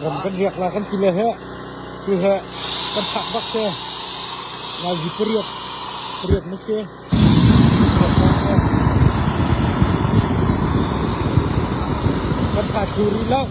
ram kan riak la kan ti le he tu he kan thak bak se lazi pariat pariat ma se kan tha thu ri lo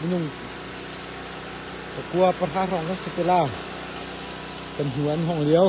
minung pakua pahra hrawng kan si te la kan hnu an hong liao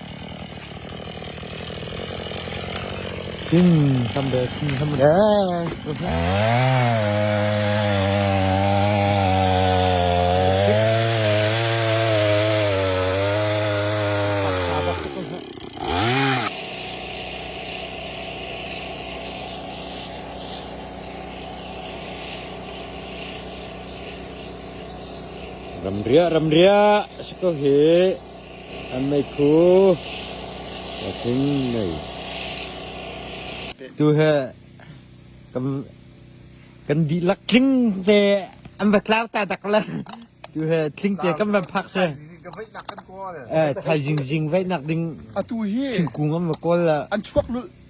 Ramriah ramriah a si ko hi. An meikhu tu he kan dihlak tling te an va tlau ta dak le tu he tling te kan van phak se thaizing zing vaih nak ding atu hi thingkung an va kawl la an chuak lul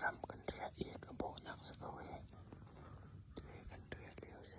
Ram kan riah i ka bawhnak si ko hih. Ti kan riah lio si.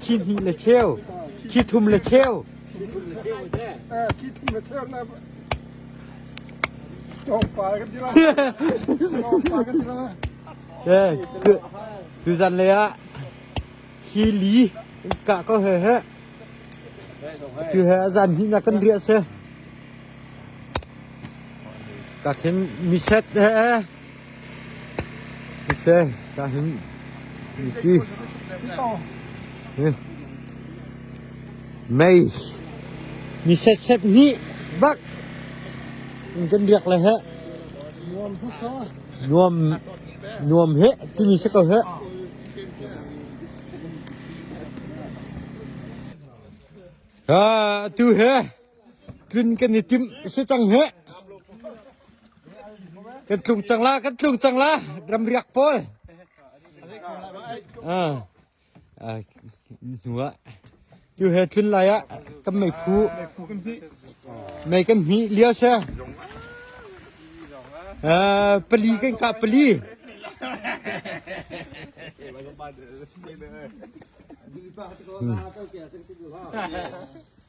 Khi hnih le cheu, khi thum le cheu. Tuzan le ah hi li kah ko he he. Tu he zan hi na kan ria se. Ka khin miset he Thisen ka him i ti mei mi setsep nih bak in kan riak le he nuam nuam he timi si ko he ha atu he Tlun kan i tim si cang he. Kan tlung cang la, kan tlung cang la, ram riak pawl. Ah. Ah. Hnuah. Tiu he tlun lai ah kan mei phu. Mei kan hmi lia se. Ah, pali kan ka pali. Hmm.